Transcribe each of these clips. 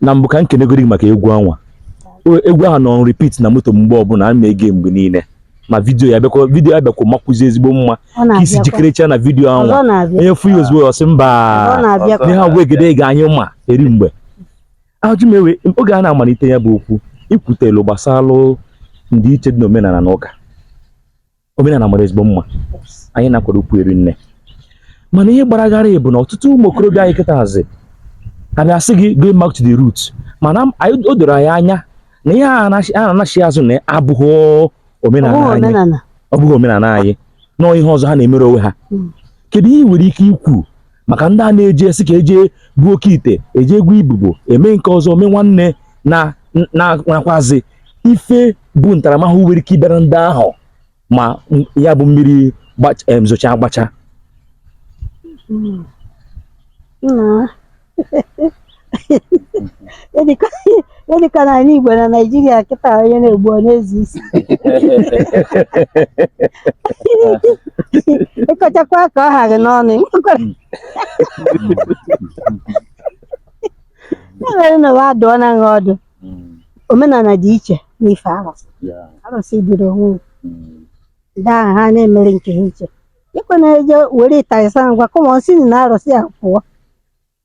na mbụ ka m kenegoro gị maka egwu anwa O- egwu ahụ nọ repeat na moto m mgbe ọbụla ana m ege mgbe niile ma vidiyo ya bịakwa vidiyo ya bịakwa makwuzi ezigbo mma Ọ ka i si na-abịakwa. jikerecha na vidiyo Ọzọ anwa na-abịa. onye fụ ya ozugbo ọ sị Ọ mba na-abịakwa. n'ihe agwa egede ga anyị ma eri mgbe ajụ m ewe oge a na-amalite ya bụ okwu i kwutelu gbasara ndịiche dị n'omenala na ụka omenala mara ezigbo mma anyị na-akwado ukwu eri nne mana ihe gbara gharịị bụ na ọtụtụ ụmụ okorobịa anyị kịta hazi ka na-asị gị go back to the root mana o doro anyị anya na ihe ha na-anachi azụ na abụghị omenala anyị ọ bụghị omenala anyị na ọ ihe ọzọ ha na-emere onwe ha hmm. kedu ihe i nwere ike ikwu maka ndị a na-eji asị ka eje gbuo oke ite eje gwọ ibobo eme nke ọzọ mee nwanne na nakwazi ife bụ ntaramahụhụ nwere ike ịbịara ndị ahụ ma ya bụ mmiri zocha agbacha hmm. dịka na anị igbo na naijiria kịta onye na-egbu ọ na-ezi isi ị kọchakwa ka ọ ha gị n'ọnụ enwere na wa adụọ na nha ọdụ omenala dị iche n'ife arụsị arụsị biri onwe ndị ahụ ha na-emere nke ha iche ịkwe na-eje were ịtarịsa ngwa kụmọ si na arụsị a pụọ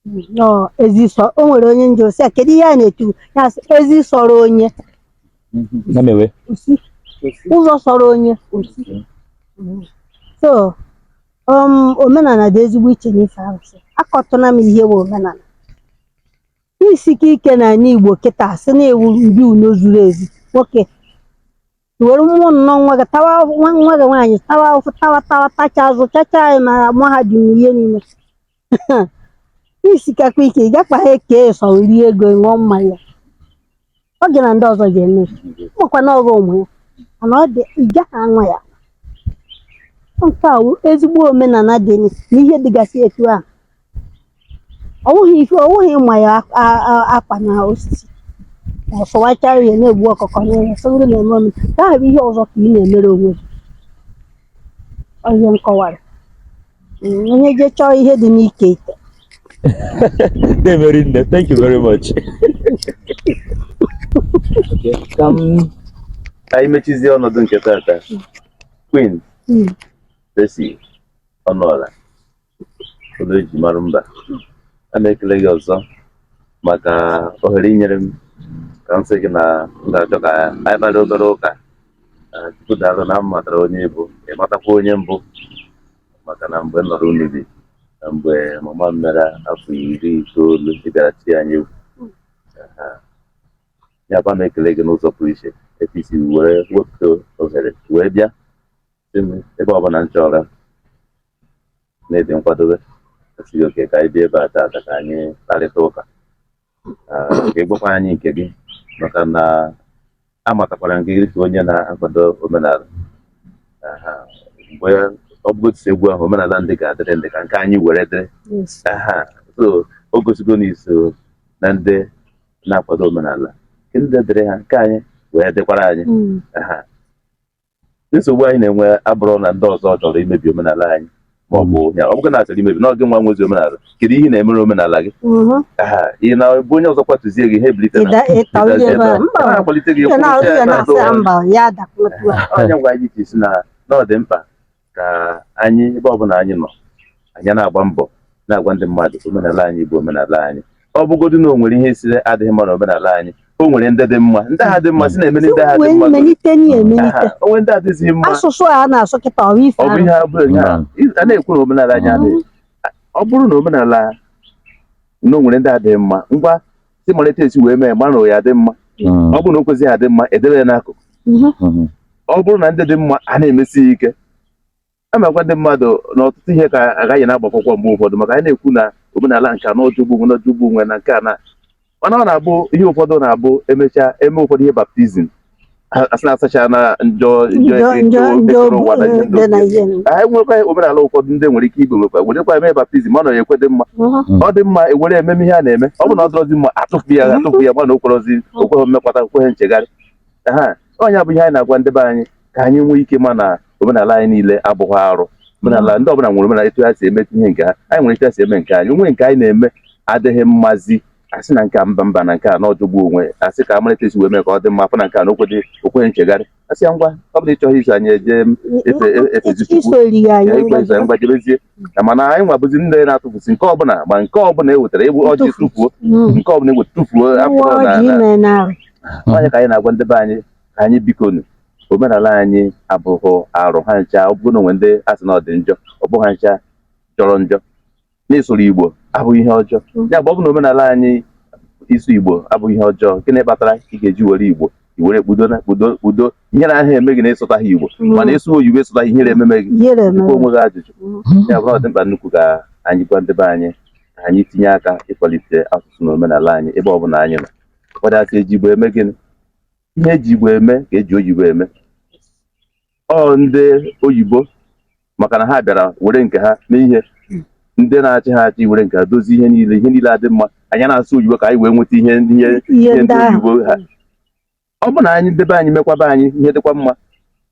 Nnọọ ezi sọ o nwere onye m jụ sị ya kedu ihe a na-etu ya sị ezi sọrọ onye ya mewe ọ sị ụzọ sọrọ onye o si so um, omenala dị ezigbo iche n'ife arụsị akọtụna m ihe bụ omenala i sike ike na ala igbo kịta sị na ị wụ dibiụnọ zuru ezu nwoke were mụọ nnọọ nwa gị tawa nwa nwa gị nwaanyị tawa ahụhụ tawa tawa tacha azụchacha ya na mahadum na ihe niile i sikakwa ike ị gakwaha eke sọ rie ego ṅụọ mmanya ọ gị na ndị ọzọ ga-eme makwa na ọghọ ụmụ ya mana ọ dị ị gaghị anwa ya nke a wụ ezigbo omenala dị na ihe dịgasị etu ahụ ọ wụghị ife ọ wụghị ịma ya ak- a- a- akwa na osisi ọ sọwachara ya na-egbu ọkụkọ n'ụlọ sọgoro na-eme ọnụ nke ahụ bụ ihe ọzọ ka ị na-emere onwe gị Ọ ihe m kọwara Mm, onye je chọọ ihe dị n'ike ite na-emeri nne thank you very much ka m ka anyị mechizie ọnọdụ nke tata queen Mm. Tracy ọnụọla ụlọ eji mara mba ana m ekele gị ọzọ maka ohere i nyere m ka m sị gị na m ga-achọ ka anyị kparịa obere ụka Ee, tupu taa na m matara onye ị bụ ị matakwa onye m bụ maka na mgbe m nọrọ unu bi na mgbe mama m mere afọ iri itoolu ị bịara tie anyị egwu Aha. ya kwa m ekele gị n'ụzọ pụrụ iche etu i si were wepụta ohere wee bịa sị m ebe ọbụla m chọrọ na ị dị nkwadobe asị gị okay ka anyị bịa ebe a taata ka anyị kparịta ụka ka ị gwakwa anyị nke gị maka na amatakwara nke gị ka onye na-akwado omenala mgbe ọ bụgo tisi egwu ahụ omenala ndị ga-adịrị ndị ka nke anyị were dịrị so o gosigo na i so na ndị na-akwado omenala ndị dịrị ha nke anyị wee dịkwara anyị nsogbu anyị na-enwe abụrụ na ndị ọzọ chọrọ imebi omenala anyị ma ọ bụ hmm. ya ọ bụghị na a chọrọ imebi na ọ gị nwa nwezi omenala kedu ihe ị na-emere omenala gị hmm. ị na-abụ onye ọzọ kwatuzie gị ha ebilite na-akwalite gị ọ ya ka anyị ji sị na ọ dị mkpa ka anyị ebe ọbụla anyị nọ anyị na-agba mbọ na-agwa ndị mmadụ omenala anyị bụ omenala anyị ọ bụgodị na o nwere ihe ị sịrị adịghị mma na omenala anyị o nwere ndị dị mma ndị ha dị mma sị na-emeli ndị ha dị mma o nwe ndị adịghị mma asụsụ a na-asụ kịta ọ bụ ihe abụ a na-ekwu na omenala anyị adịghị ọ bụrụ na omenala na o nwere ndị adịghị mma ngwa sị mara etu esi wee mee mara na ya dị mma mm. ọ bụrụ na o kwezighị adị mma edebe ya n'akụkụ mm-hmm. Mm-hmm. ọ bụrụ na ndị dị mma a na-emesi ya ike amakwa ndị mmadụ na ọtụtụ ihe ka agaghị na-agbakwụkwọ mgbe ụfọdụ maka anyị na-ekwu na omenala nke a na ọ jọgbu onwe na ọ jọgbu onwe na nke a na mana ọ na-abụ ihe ụfọdụ na-abụ emechaa eme ụfọdụ ihe baptizim asị na asachana njọ anyị nwekwa omenala ụfọdụ ndị nwere ike iwe nwekwa werekwa eme baptizim ọ na ekwe dị mma ọ dị mma ewere ememe ihe a na-eme ọ bụrụ na ọ dịrọzi mma atụfu ya atụfu ya mana o kwerozi o kweghị mmekwata o kweghị nchegharị ha ọ ya bụ ihe anyị na-agwa ndị be anyị ka anyị nwee ike ma na omenala anyị niile abụghị arụ omenala ndị ọbụla nwere omenala etu ha si emetụ ihe nke ha anyị nwere etu ha si eme nke anyị o nwe nke anyị na-eme adịghị mmazi asị na nke a mba mba na nke a na ọ jọgbu onwe ya asị ka a mara etu esi wee mee ka ọ dị mma a fụ na nke a na o kweghị o kweghị nchegharị asị ya ngwa ọ bụrụ na ị chọghị iso anyị eje m efe e- efezi chukwu iso eri ya ya ya ikpe eze ngwa jebezie na mana anyị nwa bụzi ndị na-atụfusi nke ọbụla ma nke ọbụla e wetara egbu ọjị Ntụfu. tụfuo Mm. nke ọbụla egwu tụfuo Uwe afọ na ọjị na- ime narị. ọ ya ka anyị na-agwa ndị be anyị ka anyị bikonu omenala anyị abụghị arụ ha ncha ọ bụrụ na o nwe ndị asị na ọ dị njọ ọ bụghị ha ncha jọrọ njọ n'ịsụrụ Igbo abụghị ihe ọjọọ mm. ya bụ ọ bụ na omenala anyị ịsụ Igbo abụghị ihe ọjọọ gịnị kpatara ị ga-eji were Igbo i were kpudo na kpudo kpudo ihere aha eme gị na ị sụtaha Igbo mm. mana ịsụ oyibo ị sụtaha ihere ememe gị jụọ onwe gị ajụjụ mm. ya bụ ọ dị mkpa nnukwu ka anyị gwa ndị be anyị ka anyị tinye aka ịkwalite asụsụ na omenala anyị ebe ọ bụla anyị nọ ụfọdụ asị e ji Igbo eme gịnị ihe e ji Igbo eme ka e ji oyibo eme ọ ndị oyibo maka na ha bịara were nke ha mee ihe ndị na-achị ha achị were nke ha dozie ihe niile ihe niile adị mma anyị na-asụ oyibo ka anyị wee nweta ihe ihe ihe ihe ndị ndị ahụ oyibo ha ọ bụ na anyị ndị be anyị mekwaa be anyị ihe dịkwa mma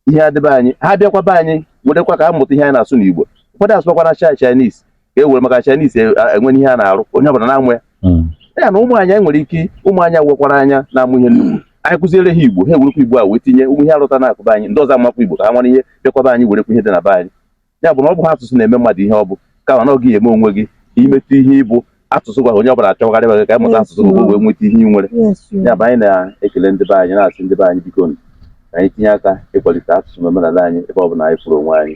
ihe adị be anyị ha bịakwa be anyị werekwa ka a mụta ihe anyị na-asụ n'igbo ụfọdụ asụbakwana chi Chinese ka e were maka Chinese e, e nwee ihe ha na-arụ onye ọbụla na-enwe hmm. ya na ụmụ anyị e nwere ike ụmụ anyị wekwara anya na-amụ ihe nnukwu anyị kụziere ha igbo ha ewerekwa igbo a wee tinye ụmụ ihe arụta na akụ be anyị ndị ọzọ amụkwa igbo ka ha nwere ike bịakwa be anyị werekwa ihe dị na be anyị ya bụ na ọ bụha asụsụ na-eme mmadụ ihe ọ bụ kama ọ gị eme onwe gị imetụ ihe ị bụ asụsụ gị a onye ọbụla achọgharị gị ka ịmụta asụsụ gị wee nweta ihe ị nwere ya bụ anyị na-ekele ndị be anyị na-asị ndị be anyị biko ka anyị tinye aka ịkwalite asụsụ na omenala anyị ebe ọ bụla anyị fụrụ onwe anyị